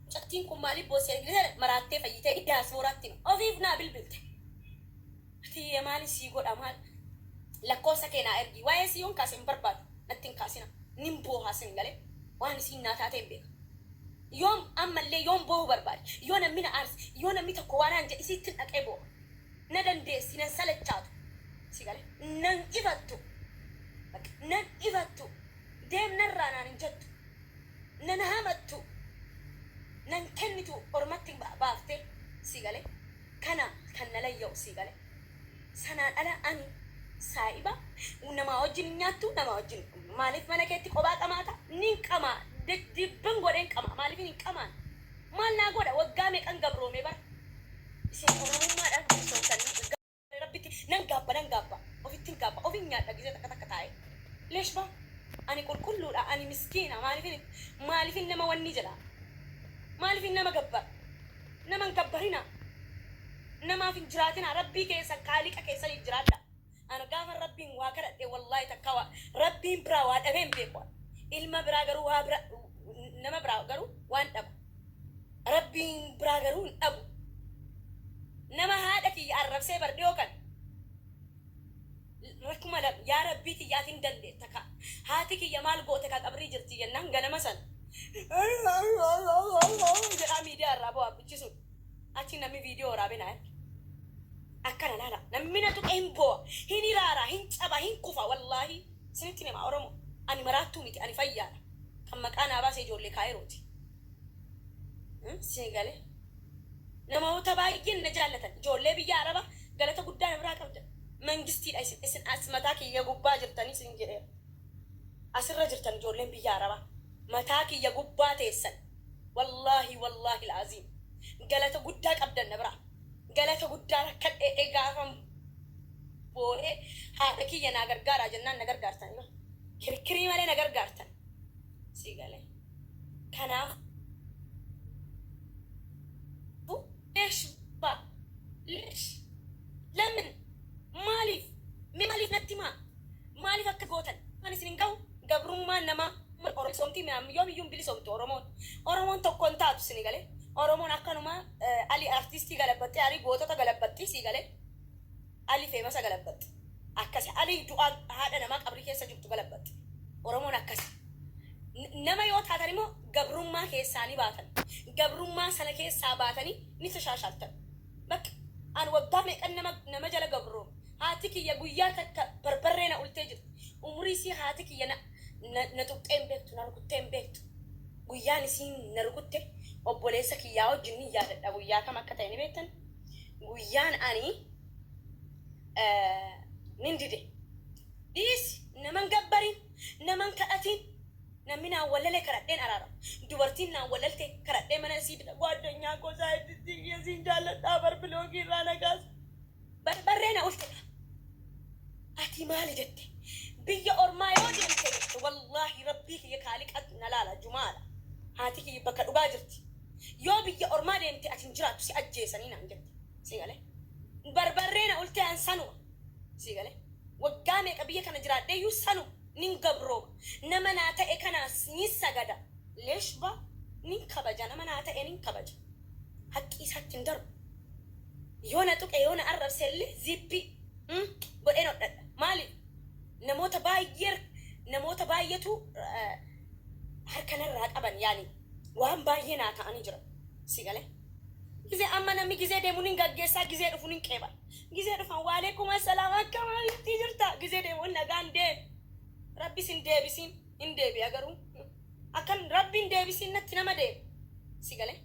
Mucattiin kun maaliif boosse maraattee fayyitee diyaaspooraatti ofiif naa bilbilte. Atiyyee maali sii godha maal lakkoofsa kee naa ergi waa'ee sii yoon kaase hin barbaadu natti hin kaasina nin boohaa sin galee waan isiin naa taatee hin beeka. Yoom ammallee yoon boohu barbaade yoo namni na aarse yoo namni tokko waa naan jedhe isiittin dhaqee booha. Na dandeessi nan salachaatu si galee nan ifattu bakka nan ifattu deemnarraa naan hin jettu. Nan hamattu nan kennitu ormatti baafte sii gale kana kan na layya'u sii gale sanaan ala ani saa'iba namaa wajjin hin nyaattu namaa wajjin hin dhugdu maaliif mana keetti qobaa qamaata nin qamaa deddeebbin godheen qamaa maaliifin hin qamaan maal naa godha waggaa meeqan gabroomee bara isin oromummaadhaaf bilisoomtanii Rabbitti nan gaabba nan gaabba ofittin gaabba ofin nyaadha gizee takka takka taa'e leeshba ani qulqulluudha ani miskiina maalifin maalifin nama wanni jedha maalifin nama gabbar naman gabbarina namaaf hin jiraatina rabbii keessan kaaliqa keessaniif jiraadha ana gaafan rabbiin waa kadhadhe wallaahi takka waa rabbiin biraa waa dhabeen beeku ilma biraa garuu waa bira nama biraa garuu waan dhabu Rabbiin biraa garuu hin dhabu. Nama haadha kiyya arrabsee bar dhiyoo kana. L 2000 Yaa Rabbii kiyya ati hin dandeetta kaa. Haati kiyya maal goote kaa qabrii jirti jennaan ganama san jedhaa miidiyaa irraa boo'a abbichi sun. Achi namni viidiyoo waraabe naa erge. Akkana laala namni na tuqe hin boo'a, hin hiraara, hin caba, hin kufa wallaahii. Isinittin hima Oromo ani maraattuu miti ani fayyaadha kan maqaa naa baase ijoollee kaayirooti sii galee namoota baay'een na jaallatan ijoollee biyya araba galata guddaa na biraa qabdan mangistiidha isin isin as mataa kiyya gubbaa jirtanii isin jedheera asirra jirtan ijoolleen biyya araba mataa kiyya gubbaa teessan wallaahi wallaahi al aziim galata guddaa qabdan na biraa. Galata guddaa rakkadhee e gaafan boo'ee haadha kiyya naa gargaaraa jennaan na gargaartan yoo kirkirii malee na gargaartan sii galee kanaaf leesh baa leesh lamin maaliif mee maaliif natti maa Maaliif akka gootan waan isin hin gahu gabrummaan namaa ummata oromoo bilisoomti minaan yoom iyyuu hin bilisoomtu oromoon oromoon tokko hin taatu sini gale oromoon akkanumaa ali artistii galabbaxxee ali gootota galabbaxxii sii gale ali feemasa galabbaxxe akkasi ali du'aa haadha namaa qabrii keessa jirtu galabbaxxe oromoon akkasi nama yoo taatan immoo gabrummaa keessaa ni baatan gabrummaa sana keessaa baatanii ni tashaashaaltan Bakk an waggaa meeqan nama nama jala gabroome. Haati kiyya guyyaa takka barbarree na ultee jirti. Umurii isii haati kiyya na na na tuqxee hin beektu na rukuttee hin beektu. Guyyaan isiin na rukutte obboleessa kiyyaa wajjin nin yaadadha guyyaa kam akka ta'e ni beektan? Guyyaan ani nin dide. Dhiisi naman gabbarin naman kadhatin. Namni naa wallale kadhadheen araara. Dubartiin naa wallalte kadhadhee mana isii fida. Gwaaddanyaa koo saayintisiin kiyya siin jaalladhaa bar biloogii irraa na kaasi. Barbarree na ulfedha. Ati maali jette? Biyya ormaa yoo deemte jette wallaahi rabbii kiyya kaaliqatu na laala jumaadha. Haati kiyya bakka dhugaa jirti. Yoo biyya ormaa deemte ati hin jiraattu si ajjeesanii naan jette. Sii galee? Barbarree na ultee an sanuma. Sii galee? Waggaa meeqa biyya kana jiraadheeyyuu sanu nin gabrooma. Nama naa ta'e kanaas nin sagada. Lesh ba nin kabaja nama naa ta'e nin kabaja. Haqqi isaatti hin darbu. Yoo na tuqe yoo na arrabse illee ziippii Umm godheen hodhadha. Maali namoota baay'ee namoota baay'etu harka narraa qaban yaani waan baay'ee naa ta'anii jiran. Sii galee? Gizee amma namni gizee deemu nin gaggeessa gizee dhufu nin qeebala. Gizee dhufan waaleekum assalaam akkam habibtii jirta gizee deemuun nagaan deem rabbi sin deebisiin hin deebi'a garuu akkan rabbi hin deebisiin natti nama deem si galee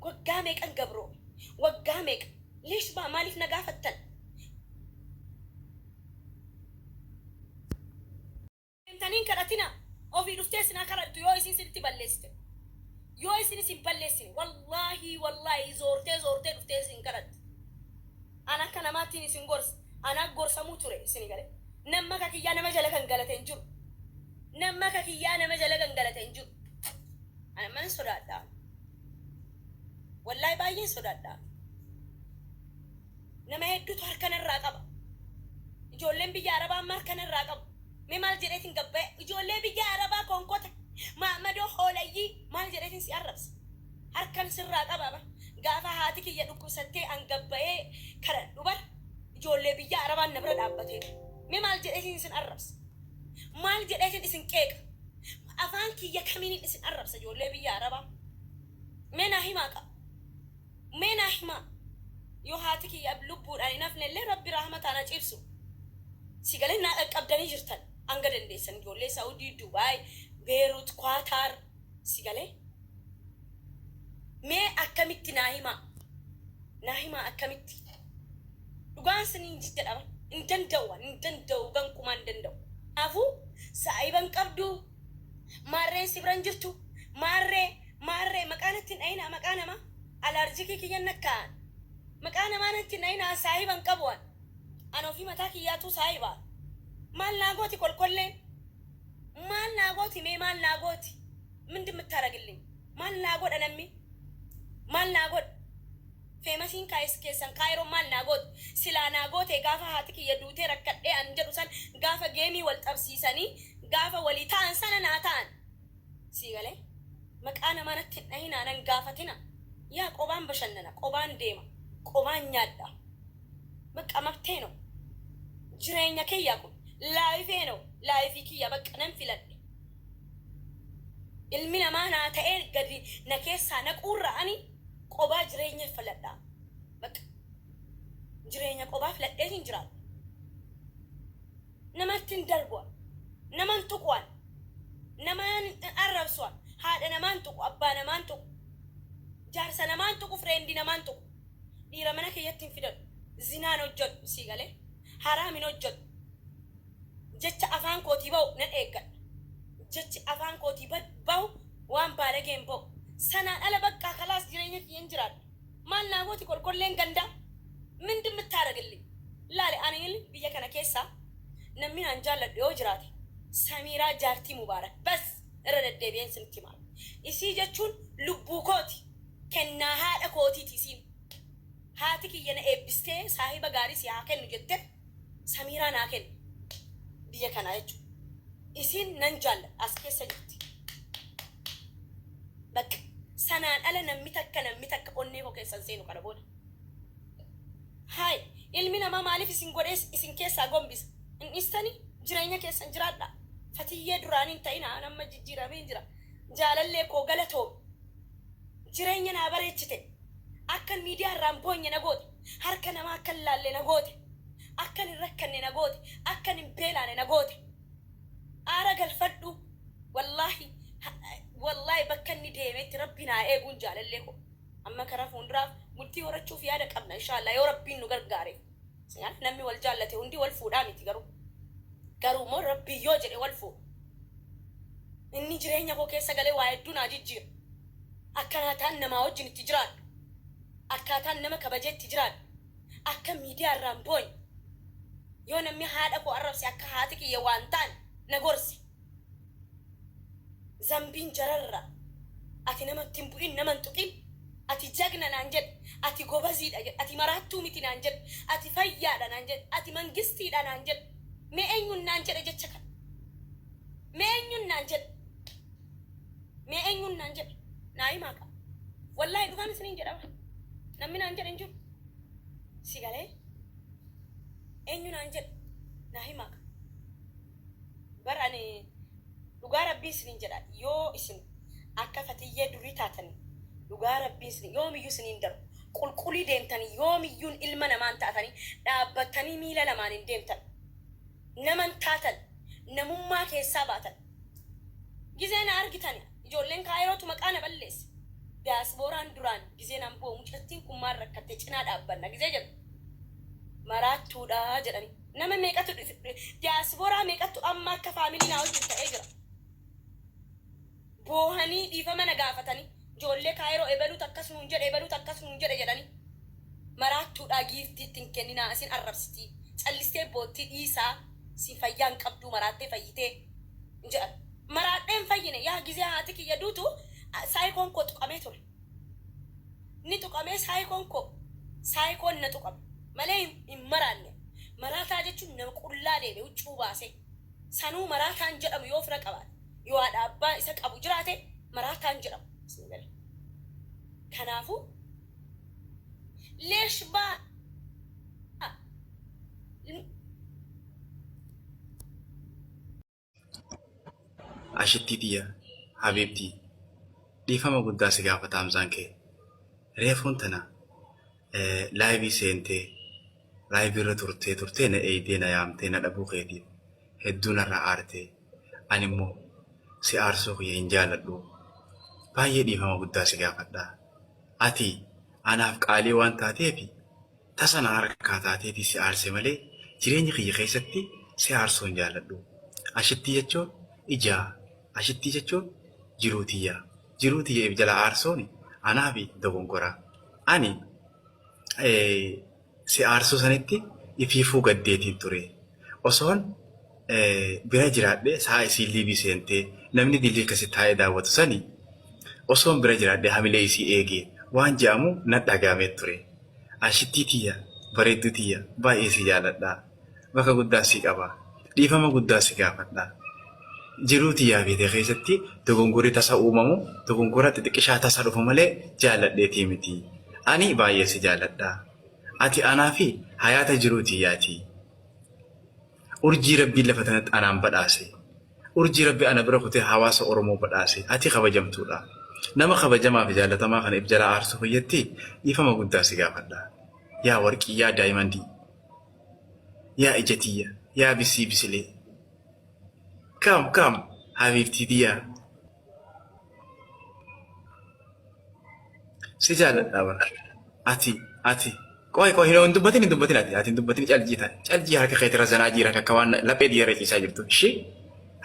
waggaa meeqan gabroome waggaa meeqa leesh baa maaliif na gaafattan Demtanii hin kadhatina ofii dhuftee isin haa kadhattu yoo isin sinitti balleessite yoo isin isin balleessine wallaahi wallaahi zoortee zoortee dhuftee isin kadhatti an akka namaattiin isin gorsa anaa gorsamuu ture isin gale namma akka kiyyaa nama jala kan galate hin jiru namma akka kiyyaa nama jala kan galate hin jiru ana man sodaadha wallaahi baay'een sodaadha Nama hedduutu harka narraa qaba. Ijoolleen biyya Arabaa amma harka narraa qabu. Mee maal jedheetin gabbaya? Ijoollee biyya Arabaa konkota, maammadoo, hoolayyii maal jedheetin si arrabsa? Harkan sirraa qaba bar. Gaafa haati kiyya dhukkubsattee an gabbayee kadhadhu bar ijoollee biyya Arabaan na bira dhaabbatee bar. Mee maal jedheetin isin arrabsa? Maal jedheetin isin qeeqa? Afaan kiyya kamiinin isin arrabsa ijoollee biyya Arabaa? Mee naa himaa kaa. Mee naa himaa yoo haati kiyya lubbuudhaan hin hafnellee rabbi rahmataan ha ciibsu. Si galee naa qaqqabdanii jirtan hanga dandeessan ijoollee Saudi, Dubai, Beirut, Quatar si galee? Mee akkamitti naa himaa naa himaa akkamitti dhugaan siniin jedha bar hin danda'u an hin danda'u gankumaa hin danda'u. Kanaafuu saahiba hin qabduu? Maarreen si bira hin jirtu. Maarree, maarree, maqaa natti hin dhayinaa, maqaa nama. Alaarjikii kiyya hin nakkaa'an. Maqaa namaa natti hin dhayinaa, an saahiba hin qabu an. An ofii mataa kiyyaatuu saahiba. Maal naa gooti kolkolleen? Maal naa gooti mee maal naa gooti? Mindin mittaaragilliñ? Maal naa godha nammi? Maal naa godha? Feemasiin kaayis keessan Kaayiroon maal naa gooti? Silaa naa gootee gaafa haati kiyya duutee rakkadhee an jedhu san gaafa geemii wal xabsiisanii Gaafa walii ta'an sana naa ta'an. Sii galee? Maqaa namaa natti hin dhahinaa, nan gaafatina. Yaa qobaan bashannana, qobaan deema, qobaan nyaadha. Baqqa mabtee no. Jireenya kiyya kun. Laayifee no. Laayifii kiyya baqqa nan filadhe. Ilmi namaa naa ta'ee gadi na keessaa naquurra ani qobaa jireenya filadha. Baqqa. Jireenya qobaa filadheetin jiraadha. namattin darbua naman tuqu an naman arrabsua haadha namaan tuqu abbaa namaan tuqu jaarsa namaan tuqu friend namaan tuqu dhiira mana kiyyatti hin fidadhu zinaa hin hojjadhu sii galee haraam hin hojjadhu jecha afaan kootii ba'u nan eeggadha jechi afaan kootii ba'u waan baalagee hin ba'u sanaan ala baqqaa kalaas jireenya kiyyan jiraadha Maal naa gooti kolkolleen gandaa? Mind mtaaragilli? Laali aniil biyya kana keessaa nammin aan jaalladhu yoo jiraate Samiiraa jaartii Mubaarak bas! Irra deddeebi'een isinitti hima. Isii jechuun lubbuu kooti. Kennaa haadha kootiiti isiin. Haati kiyya na eebbistee saahiba gaarii si haa kennu jette Samiiraa naa kenne. Biyya kanaa jechuun. Isiin nan jaalladha as keessa jirti. Bakka. Sanaan ala nammi takka nammi takka onnee koo keessa hin seenu kana booda. Haay. Ilmi namaa maaliif isin godhees isin keessaa gombisa. Hin dhiistanii? Jireenya keessan jiraadhaa. Fatiyyee duraanii hin ta'inaa an amma jijjiirameen jira. Jaalallee koo galatoomi. Jireenya naa bareechite. Akkan miidiyaa irraa hin boonye na goote. Harka namaa akka hin laalle na goote. Akkan hin rakkanne na goote. Akkan hin beelaane na goote. Aara galfadhu wallahi wallahi bakka inni deemetti rabbiin haa eeguun jaalallee koo amma kara fuunduraaf bultii horachuuf yaada qabna inshaa allah yoo rabbiin nu gargaare silaaf namni wal jaallate hundii wal fuudhaa miti garuu garuu immoo rabbiin yoo jedhe wal fuudha inni jireenya koo keessa galee waa hedduu naa jijjiira akkanaataan namaa wajjin itti jiraadhu akkaataan nama kabajee itti jiraadhu akka miidiyaa irraan booye. Yoo namni haadha koo arrabse akka haati kiyya waa hin taane na gorse. Zambiin jararra ati nama itti hin bu'in nama hin tuqin ati jagna naan jedhe ati gobaziidha jedhe ati maraattuu miti naan jedhe ati fayyaadha naan jedhe ati mangistiidha naan jedhe mee eenyuun naan jedhe jecha kana mee eenyuun naan jedhe. Mee eenyuun naan jedhe? Naa himaa kaa. Wallaahi dhugaan isiniin jedha bar. Namni naan jedhe hin jiru. Si galee? Eenyu naan jedhe? Naa himaa kaa. Bar ani dhugaa rabbii isiniin jedha yoo isin akka fatiyyee durii taatanii dhugaa rabbii isin yoomiyyuu isiniin darbu qulqulii deemtanii yoomiyyuun ilma namaan taatanii dhaabbattanii miila lamaaniin deemtan naman taatan namummaa keessaa baatan. Gizee na argitan ijoolleen Kaayirootu maqaa na balleesse. Daayisbooraan duraan gizee naan boo'u mucattiin kun maal rakkattee cinaa dhaabbanna gizee jedhu. Maraattuudha jedhani. Nama meeqatu daayisbooraa meeqattu amma akka faamilii naa wajjin ta'ee jira. boohanii dhiifama na gaafatanii ijoollee Kaayiroo ebaluutu akkas nuun jedhe ebaluutu akkas nuun jedhe jedhanii maraattuudhaa giiftii itti hin kenninaa isin arrabsitii callistee boottii dhiisaa isin fayyaa hin qabduu maraattee fayyitee hin jedhan maraadhee hin fayyine yaa gizee haati kiyya duutu saayikoon koo tuqamee ture ni tuqamee saayikoon koo saayikoon na tuqame malee hin maraanne maraataa jechuun nama qullaa deeme huccuu baasee Sanuu maraataan jedhamu yoo fira qabaate, yoo haadha abbaa isa qabu jiraate maraataan jedhama. Bismillaahi. Kanaafuu leesh baa Ashittii tiyya habiibtii dhiifama guddaa si gaafata hamzaan kee reefuun tana laayivii seentee laayivii irra turtee turtee na eeydee na yaamtee na dhabuu keetiif hedduu narraa aartee ani immoo si aarsuu kiyya hin jaaladhu baay'ee dhiifama guddaa si gaafadha ati anaaf qaalii waan taateefi tasa na harkaa taateeti si aarse malee jireenya kiyya keessatti si aarsuu hin jaaladhu ashittii jechuun ijaa ashittii jechuun jiruu tiyyaa. Jiruu tiyya if jalaa aarsuun anaafi dogongoraa. Ani si aarsuu sanitti ifiifuu gaddeetiin ture. Osoon bira jiraadhee sa'a isiin liivii seentee namni dilii kasi taa'ee daawwatu sani osoon bira jiraadhee hamilee isii eegee waan je'amu nadhagaamee ture. Aashittii tiyya bareedduu tiyya baay'ee si jaaladha. bakka guddaa si qaba. Dhiifama guddaa si gaafadha. Jiruu tiyyaa fi tee keessatti dogongorri tasa uumamu dogongora xixiqqishaa tasa dhufu malee jaalladheetii miti. Ani baay'ee si jaalladha. Ati anaa fi hayaata jiruu tiyyaati. Urjii Rabbiin lafa tanatti anaan badhaase. Urjii Rabbi ana bira kutee hawaasa Oromoo badhaase. Ati kabajamtuudha. Nama kabajamaa fi jaallatamaa kana if jalaa aarsuu fayyatti dhiifama guddaa si gaafadha. Yaa warqii, yaa daayimandii. Yaa ija tiyya yaa bisii bisilee. Come come habiibtii tiyyaa. Si jaaladhaa bar. Ati ati qoy qoy hin hin dubbatin hin dubbatin ati ati hin dubbatin caljii taate caljii harka keetii irra zanaa jiira akka waan laphee tiyya irra ciisaa jirtu ishee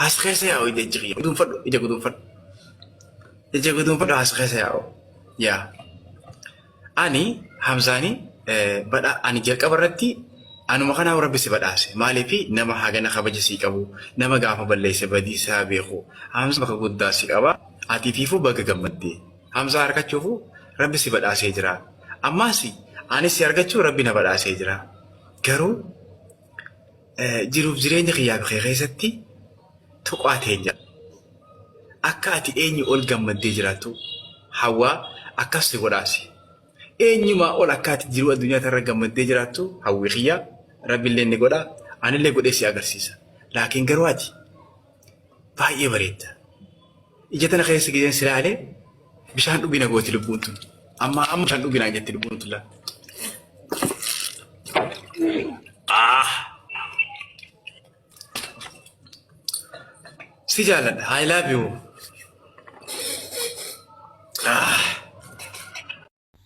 haas keessa yaa'u ija ija kiyya guduunfadhu ija guduunfadhu ija guduunfadhu haas keessa yaa'u yaa. Ani Hamzaani badha ani jalqaba irratti anuma kanaa rabbi si badhaase maaliif nama hagana kabaja sii qabu nama gaafa balleesse badii isaa beeku Hamza bakka guddaa si qaba ati fiifuu baga gammadde Hamza arkachuufu rabbi si badhaasee jira ammaasi ani si argachuu rabbi na badhaasee jira garuu jiruuf jireenya kiyyaa kee keessatti tuqaa teenya akka ati eenyu ol gammaddee jiraattu hawwaa akkas si godhaasi. Eenyumaa ol akka ati jiruu addunyaa irra gammaddee jiraattu hawwii kiyyaa rabbillee ni godha anillee godhee si agarsiisa. Laakiin garuu ati baay'ee bareedda. Ija tana keessa gideen si laale bishaan dhugi na gooti lubbuun tun. Amma amma bishaan dhugi naan jetti lubbuun tun laa. Ah! Si jaalladha. I love you. Ah!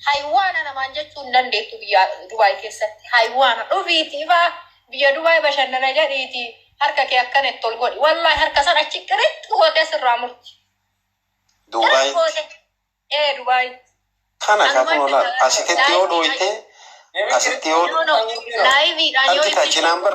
Haywaana namaan jechuu hin dandeettu biyya Dubaay keessatti. Haywaana dhufiitii faa biyya Dubaay bashannana jedhiitii harka kee akkana itti ol godhi. Wallaahi harka san achi qiritti gootee sirraa murti. Qiritti Duubaayitti gootee. Ee Dubaayitti. kana Anuma kaatuma itti laal kana asitti yoo laayiviidhaan dhooyte asitti yoo No no laayiviidhaan yoo argita itti cinaan bar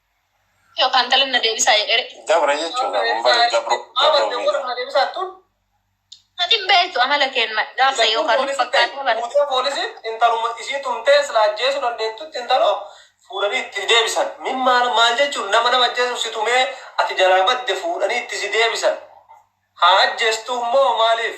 Yookaan intalli na deebisaa jedhere. Gabra jechuu kaa kun bari gabro gabro miidha. Ati hin beektu amala keen ma jaarsa yoo kan fakkaatee bana. Guutee poolisiin intaluma ishii tumtee silaa ajjeesuu dandeettutti intaloo fuudhanii itti deebisan min maal maal jechuun nama nama ajjeesuuf si tumee ati jalaa badde fuudhanii itti si deebisan haa ajjeestuu immoo maaliif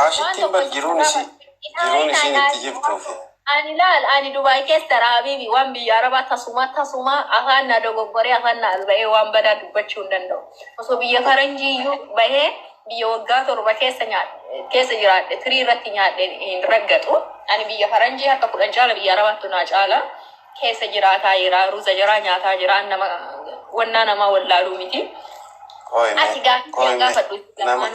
Aashittiin bar jiruun isii jiruun isiin itti jirtuu fi. Ani laal ani dubai kessa dha habibi wan biyya araba tasuma tasuma afaan na dogogore afaan na albahe wan bada dubachu hin danda'u oso biyya faranji iyyu bahe biyya wagga torba kessa nyaadhe kessa jiraadhe firii irratti nyaadhe hin raggaxu ani biyya faranji harka kudhan caala biyya arabaattu naa caala kessa jiraataa jira ruza jara nyaataa jira an nama wannaa namaa wallaaluu miti Qoy mee ati gaafii qoy mee gaafadhu nama lamaan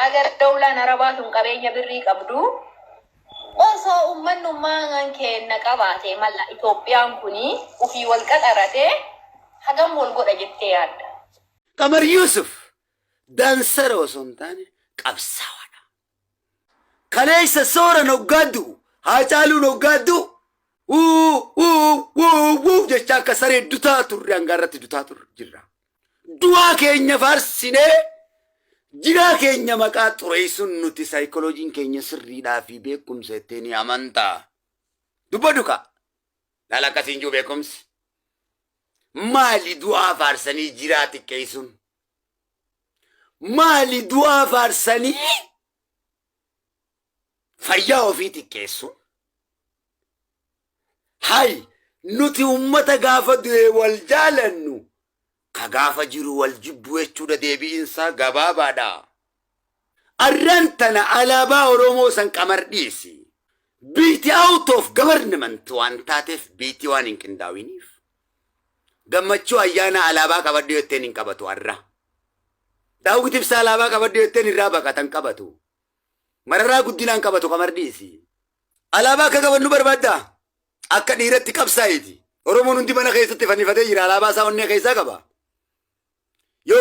Hagar dowlaan arabaa tun qabeenya birrii qabdu osoo ummannummaan keenna qabaatee mala Itoophiyaan kun ufii wal qaxaratee hagam wal godha jettee yaadda? Qamar Yuusuf daansara osoo hin taane qabsaawaadha. Kaleessa Sooran hoggaa du'u, Haacaaluun hoggaa du'u wuu wuu wuu wuu jechaa akka saree dutaa turre hangaa irratti dutaa turre jirra. Du'aa keenya faarsinee jiraa keenya maqaa xureessuun nuti saayikolojiin keenya sirriidhaa fi beekumsa itti ni amanta. Dubbadhu kaa. Laala akkasiin jiru beekumsi. Maali du'aa faarsanii jiraa xiqqeessuun? Maali du'aa faarsanii fayyaa ofii xiqqeessu hay nuti ummata gaafa du'e wal jaalannu ka gaafa jiru wal jibbu jechuudha deebi'insaa gabaabaadha arran tana alaabaa oromoo san qamar dhiisi biiti out of government waan taateef biiti waan hin qindaawiniif Gammachuu ayyaana alaabaa qabadhu jetteen hin qabatu arra. Daawwit ibsaa alaabaa qabadhu jetteen irraa baqata hin qabatu. Mararaa guddinaan qabatu kamar dhiisi. Alaabaa akka qabannu barbaadda? Akka dhiiratti qabsaa'iti. Oromoon hundi mana keessatti fannifatee jira alaabaa isaa onnee keessaa qaba.